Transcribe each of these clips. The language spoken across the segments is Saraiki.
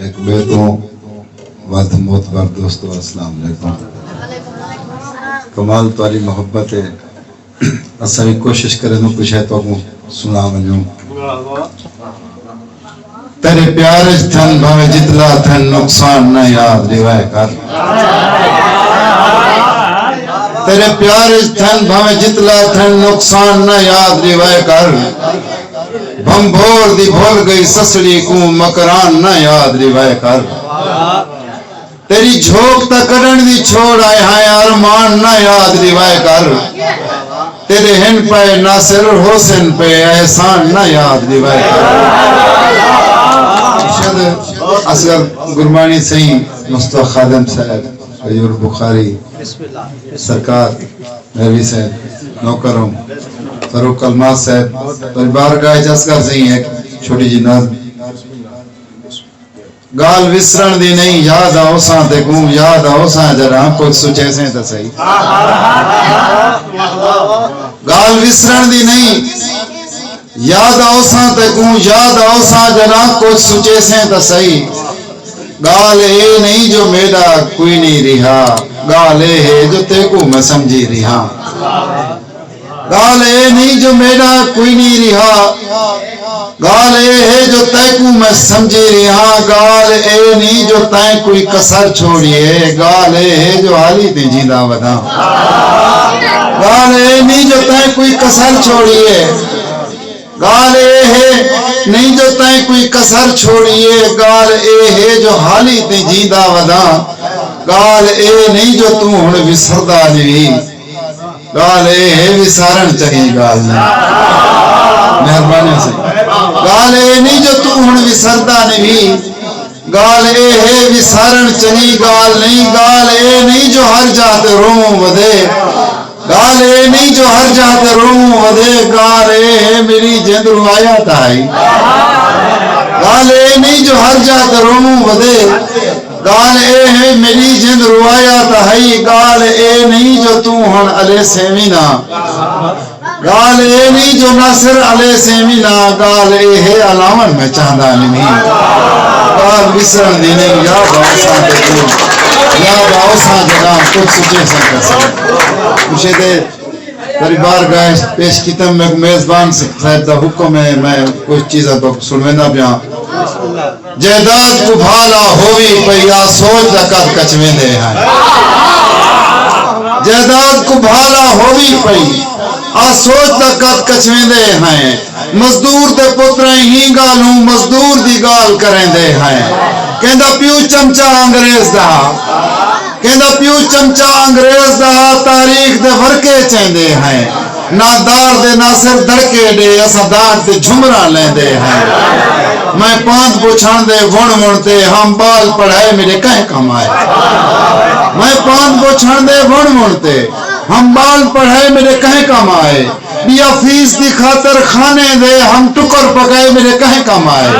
ہک ٻئے توں ودھ معتبر دوستو السلام علیکم کمال تہاݙی محبت ہے اساں وی کوشش کریندوں پے شے تہاکوں سݨا ونڄوں تیݙے پیار اچ تھن بھانویں جتلا تھن نقصان نہ یاد ݙیوائے کر تیݙے پیار اچ تھن بھانویں جتلا تھن نقصان نہ یاد ݙیوائے کر بھنبھور دی بھل گئی سسڑی کوں مکران نہ یاد ڈیوائے کر تیری جھوک تاں کڈن دی چھوڑ آئے ہائیں ارمان نہ یاد ڈیوائے کر تیرے ہن پئے ناصر حسین پئے احسان نہ یاد ڈیوائے کر اصغر گرمانی سہی مصطفی خادم صاحب غیور بخاری سرکار ریوی صاحب نوکر ہوں فاروق الماس صاحب تہاڈی بارگاہ وچ عرض کر سئیں ہک چھوٹی جی نظم گالھ وسرن دی نئیں یاد آوساں تیکوں یاد آوساں جڈاں کجھ سچیسیں تاں سہی گالھ وسرن دی نئیں یاد آوساں تیکوں یاد آوساں جڈاں کجھ سچیسیں تاں سہی گالھ اے نئیں جو میڈا کوئی نئیں ریہا گالھ اے ہے جو تیکوں میں سمجھی ریہاں گالھ اے نئیں جو میڈا کوئی نئیں ریہا گالھ اے ہے جو تیکوں میں سمجھی ریہاں گالھ اے نئیں جو تیں کوئی کسر چھوڑیے گالھ اے ہے جو حالی تیں جینداں وداں۔ گال اے نہیں جو تائیں کوئی کسر چھوڑیے گال اے ہے نہیں جو تائیں کوئی کسر چھوڑیے گال اے ہے جو حالی تیں جیندا وداں گال اے نہیں جو توں ہن وسردا جیوی گال اے ہے وسارن چنگی گال نہیں مہربانی گال اے نہیں جو توں ہن وسردا نہیں ڳالھ اے ہے وسارݨ چنگی ڳالھ نئیں ڳالھ اے نئیں جو ہر جاہ تے روووں ودھے ڳالھ اے نئیں جو ہر جاہ تے روووں ودھے ڳالھ اے ہے میݙی جند روایا تاں ہئی ڳالھ اے نئیں جو ہر جاہ تے روووں ودھے ڳالھ اے ہے میݙی جند روایا تاں ہئی ڳالھ اے نئیں جو توں ہݨ الیسیں وی نہ ڳالھ اے نھیں جو ناصر علیہ سیویں نا ڳالھ اے ہے الاون میں چاہندا نھیں ڳالھ وسرن دی نھیں یاد آوساں تے کوں یاد آوساں جڈاں کجھ سچیساں کرساں کچھے دے تری بار گاہ اچ پیش کیتم میکوں میزبان صاحب دا حکم ہے میں کجھ چیزاں تہاکوں سنڑویندا پیاں۔ جائیداد کوں بھا لا ہووی پئی آ سوچ دا کدھ کچویندے ہن جائیداد کوں بھا لا ہووی پئی آ سوچ دا کدھ کچویندے ہن مزدور دے پتریں ہی گالھوں مزدور دی گالھ کریندے ہن کیندا پیو چمچہ انگریز دا ہا کیندا پیو چمچہ انگریز دا ہا تاریخ دے ورقے چیندے ہن۔ نادار دے ناصر دڑکے ݙے اساں دانٹ تے جھمراں لیندے ہیں میں پاند بچھاں دے وݨ وݨ تے ہم ٻال پڑھائے میݙے کہیں کم آئے میں پاند بچھاں دے وݨ وݨ تے ہم ٻال پڑھائے میݙے کہیں کم آئے ٻیا فیس دی خاطر خانے دے ہم ٹکر پکائے میݙے کہیں کم آئے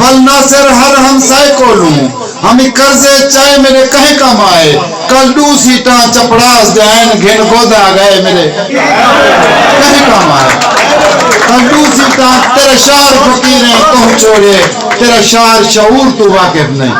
ول ناصر ہر ہمسائے کولوں ہمی کرزے چائے میݙے کہیں کم آئے کل ݙو سیٹاں چپڑاس دے آئن گھن گودھا گئے میݙے کہیں کم آئے کل ݙو سیٹاں تیرے شعر فقیریں تہوں چھوڑیے تیرا شعر شعور توں واقف نئیں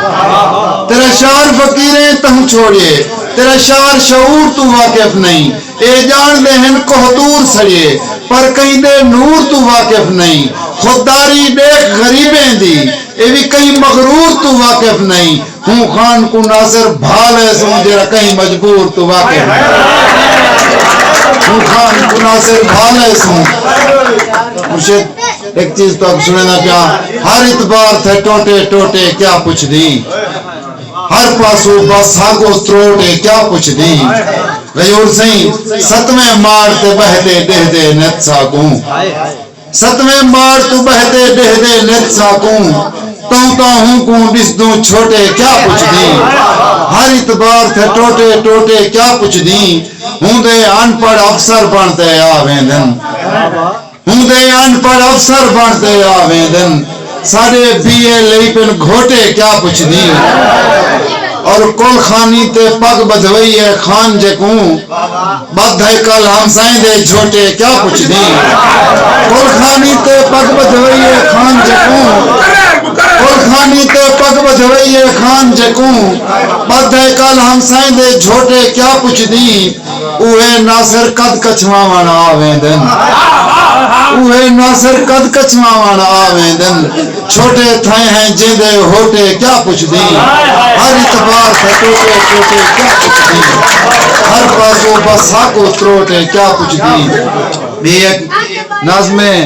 تیرا شعر فقیریں تہوں چھوڑیے تیرا شعر شعور توں واقف نئیں اے ڄاݨدے ہن کوہتور سڑیے پر کہیں دے نور توں واقف نئیں خود داری ݙیکھ غریبیں دی اے وی کہیں مغرور توں واقف نئیں ہوں خان کوں ناصر بھا لئے سوں جیرھا کہیں مجبور توں واقف نئیں ہوں خان کوں ناصر بھا لئے سوں مرشد ہک چیز تہاکوں سݨیندا پیاں ہر اتبار تھے ٹوٹے ٹوٹے کیا پچھدیں ہر پاسوں بس ساکوں تروٹ اے کیا پچھدیں غیور سئیں ستویں ماڑ تے ٻہہ تے ݙیہدے نت ساکوں۔ ستویں ماڑ توں ٻہدے ٻہدے نت ساکوں تونتاں ہوں کوں ݙسدوں چھوٹے کیا پچھدیں ہر اتبار تھے ٹوٹے ٹوٹے کیا پچھدیں ہوندے ان پڑھ افسر بݨ تے آ ویندن ہوندے ان پڑھ افسر بݨ تے آ ویندن ساڈے بی اے لئی پن گھوٹے کیا پچھدی اور کل خانی تے پگ بدھوئی اے خان جے کوں بدھ ہائے کل ہمسائیں دے جھوٹے کیا پچھدی کل خانی تے پگ بدھوئی اے خان جے کوں کل خانی تے پگ بدھوئی اے خان جے کوں بدھ ہائے کل ہمسائیں دے جھوٹے کیا پچھدی اوہے ناصر قد کچھواوݨ آ ویندن اوہے ناصر قد کچھواوݨ آ ویندن چھوٹے تھئے ہیں جیندے ہوٹے کیا پچھدیں ہر اتبار تھئے ٹوٹے ٹوٹے کیا پچھدیں ہر بازو بس ساکو تروٹے کیا پچھدیں۔ میں اک ناظم ہے۔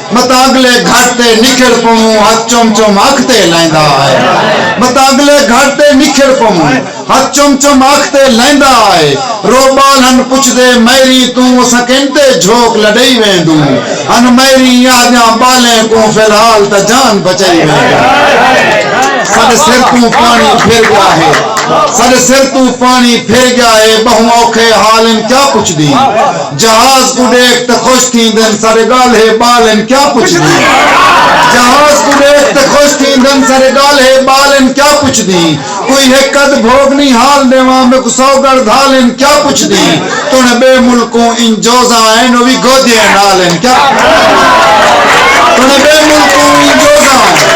متاگلے گھٹ تے نکھڑ پووں ہتھ چم چم اکھ تے لیندا آئے متاگلے گھٹ تے نکھڑ پووں ہتھ چم چم اکھ تے لیندا آئے رو ٻال ہن پچھدے میری توں اساں کن تے جھوک لڈئی ویندوں ہن میری یاں جاں ٻالیں کوں فی الحال تاں جان بچئی ویندوں۔ ساڈے سر توں پاݨی پھر ڳیا ہے ساڈے سر توں پاݨی پھر ڳیا ہے ٻہوں اوکھے حال ہن کیا پچھدی جہاز کوں ڈیکھ تے خوش تھیندن سارے گالھے بال ہن کیا پچھدی جہاز کوں ڈیکھ تے خوش تھیندن سارے گالھے بال ہن کیا پچھدی کوئی ہک ادھ بھوگ نی حال ڈیواں میکوں سو گڑھ دھال ہن کیا پچھدی تونے بے ملکوں انج جوزاں ہن او وی گودیاں نال ہن کیا تونے بے ملکوں انج جوزاں ہن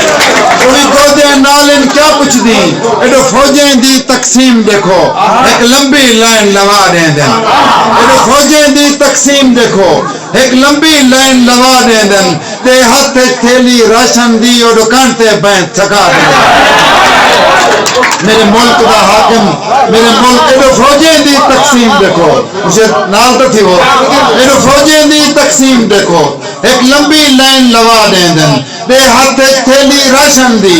او وی گودیاں نال ہن کیا پچھدی ایڈو فوجیں دی تقسیم ڈیکھو ہک لمبی لائن لوا ڈیندن۔ انہاں فوجیں دی تقسیم ݙیکھو۔ ہک لمبی لائن لوا ݙیندن تے ہتھ اچ تھیلی راشن دی او ݙکݨ تے بینت چھکا ݙیندن۔ میݙے ملک دا حاکم میݙے ملک ایݙو فوجیں دی تقسیم ݙیکھو۔ مشیر نال تاں تھیوو۔ ایݙو فوجیں دی تقسیم ݙیکھو۔ ہک لمبی لائن لوا ݙیندن تے ہتھ اچ تھیلی راشن دی۔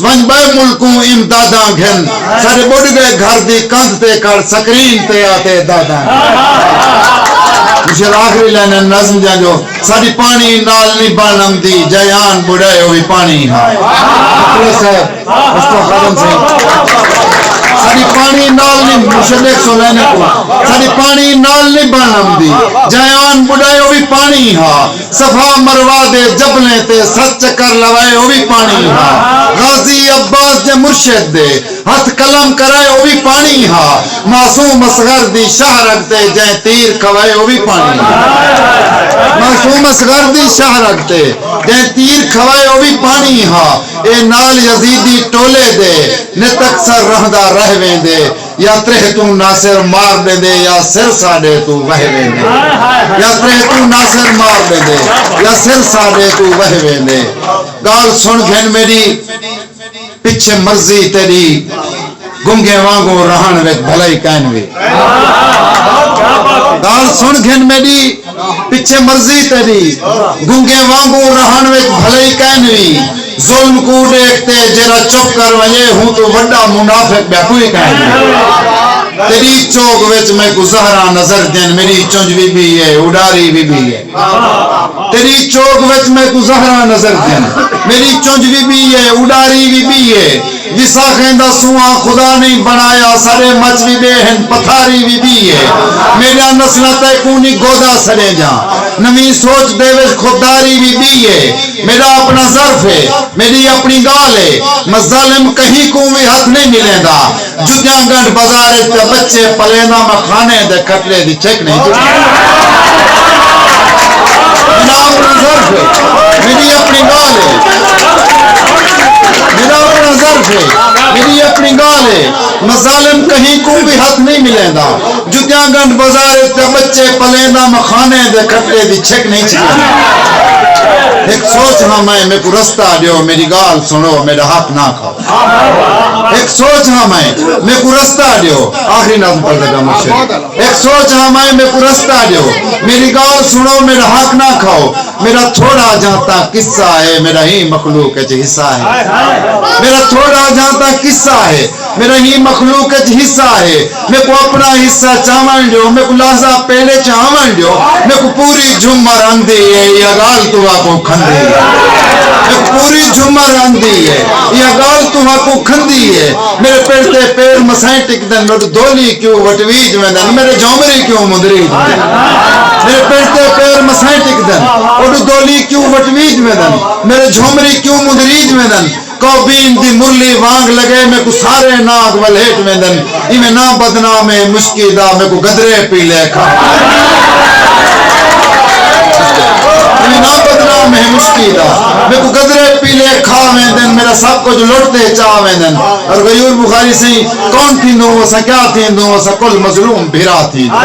ونج بئے ملکوں امداداں گھن ساڈے بڈ گئے گھر دی کندھ تے کر سکرین تے آتے داداں گھن شیر آخری لائنیں نظم دیاں جو ساڈی پانی نال نی بن امدی جئے آن بڈائے او وی پانی ہا مخلص صاحب مصطفی خادم سئیں ساڈی پانی نال نی مرشد ایک سو لائنیں کوں ساڈی پانی نال نی بن امدی جئے آن بڈائے او وی پانی ہا صفا مروہ دے جبلیں تے ست چکر لوائے او وی پاݨی ہا غازی عباس جے مرشد دے ہتھ قلم کرائے او وی پاݨی ہا معصوم اصغر دی شاہ رگ تے جئیں تیر کھوائے او وی پاݨی ہا معصوم اصغر دی شاہ رگ تے جئیں تیر کھوائے او وی پاݨی ہا اے نال یزیدی ٹولے دے نت اکثر رہندا رہ ویندے یا تریہہ توں ناصر مار ݙیندے یا سر ساݙے توں وہے ویندے یا تریہہ توں ناصر مار ݙیندے یا سر ساݙے توں وہے ویندے ڳالھ سݨ گھن میݙی پچھے مرضی تیݙی گنگیں وانگوں رہݨ وچ بھلائی کائنوی ڳالھ سݨ گھن میݙی پچھے مرضی تیݙی گنگیں وانگوں رہݨ وچ بھلئی کائن وی ظلم کوں ݙیکھ تے جیرھا چپ کر ونڄے ہوں توں وݙا منافق ٻیا کوئی کائن وی تیݙی چوک وچ میکوں زہراں نظر دین میݙی چنج وی ٻی اے اݙاری وی ٻی اے تیݙی چوک وچ میکوں زہراں نظر دین میݙی چنج وی ٻی اے اݙاری وی ٻی اے۔ وساخیں دا سونہاں خدا نئیں بنڑایا سارے مچ وی ڈے ہن پتھاری وی دی ہے میڈیاں نسلاں تیکوں نی گودا سڑیں جاں نویں سوچ دے وچ خودداری وی دی ہے میڈا اپنا ظرف ہے میڈی اپنی گالھ ہے مظالم کہیں کوں وی ہتھ نئیں ملیندا جتیاں گنڈھ بازار وچ پیا بچے پلیندا میں کھانے دے کھٹڑے دی چھک نئیں جھکدی۔ میڈا اپنڑاں ظرف ہے، میڈی اپنڑی گالھ ہے، مظالم کہیں کوں وی ہتھ نہیں ملیندا، جتیاں گنڈھ بازار اچ پیا بچے پلیندا میں خانیں دے کھٹے دی چھک نہیں چھکیندا۔ ہک سوچ ہاں میں، میکوں رستہ ڈیو، میڈی گالھ سنڑو، میڈا حق نہ کھاؤ۔ ہک سوچ ہاں میں، میکوں رستہ ڈیو، آخری نظم پڑھدا پیاں مرشد۔ ہک سوچ ہاں میں، میکوں رستہ ڈیو، میڈی گالھ سنڑو، میڈا حق نہ کھاؤ۔ میڈا تھوڑا جاں تاں قصہ ہے میڈا ہی مخلوق اچ حصہ ہے میڈا تھوڑا جاں تاں قصہ ہے میڈا ہی مخلوق اچ حصہ ہے میکوں اپنا حصہ چاون ڈیو میکوں لحظہ پیڑے چ آون ڈیو میکوں پوری جھمر آندی ہے ایہا گالھ تہاکوں کھندی ہے میکوں پوری جھمر آندی ہے ایہا گالھ تہاکوں کھندی ہے میڈے پڑ تے پیر مسائیں ٹکدن میڈو دھولی کیوں وٹویج ویندن میڈے جھومری کیوں مندریج ویندن۔ میݙے پنج تے پیر مسائیں ٹکدن اوݙو دولی کیوں وٹویج ویندن میݙے جھومری کیوں مندریج ویندن کوبین دی مرلی وانگ لڳے میکوں سارے ناگ ولھیٹ ویندن ایویں ناں بدنام اے مشکی دا میکوں گدرے پیلے کھا ویندن میݙا سب کجھ لٹ تے چا ویندن اور غیور بخاری سئیں کون تھیندوں اساں کیا تھیندوں اساں کل مظلوم بھرا تھیندوں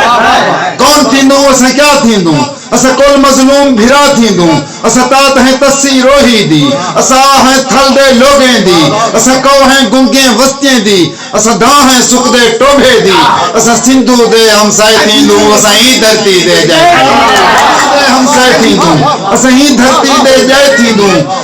کون تھیندوں اساں کیا تھیندوں اساں کل مظلوم بھرا تھیندوں اساں تات ہیں تسی روہی دی اساں آ ہیں تھل دے لوگیں دی اساں کو ہیں گنگیں وستیں دی اساں دھاں ہیں سکدے ٹوبھے دی اساں سندھو دے ہمسائے تھیندوں اساں ایں دھرتی دے جائے تھیندوں اساں ایں دھرتی دے جائے تھیندوں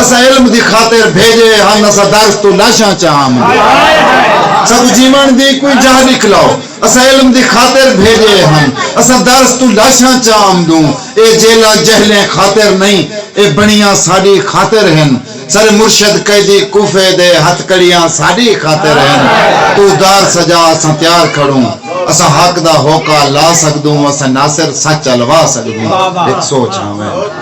اساں علم دی خاطر بھیجے ہن اساں درس توں لاشاں چا ہم ساکوں جیون دی کوئی جاہ ڈکھلاؤ اساں علم دی خاطر بھیجے ہن اساں درس توں لاشاں چا ہم دوں اے جیلا جہلیں خاطر نہیں اے بنیاں ساڈی خاطر ہن سارے مرشد قیدی کوفے دے ہتھکڑیاں ساڈی خاطر ہن توں دار سجا اساں تیار کھڑوں اساں حق دا ہوکا لا سکدوں اساں ناصر سچ الوا سکدوں ہک سوچ ہاویں۔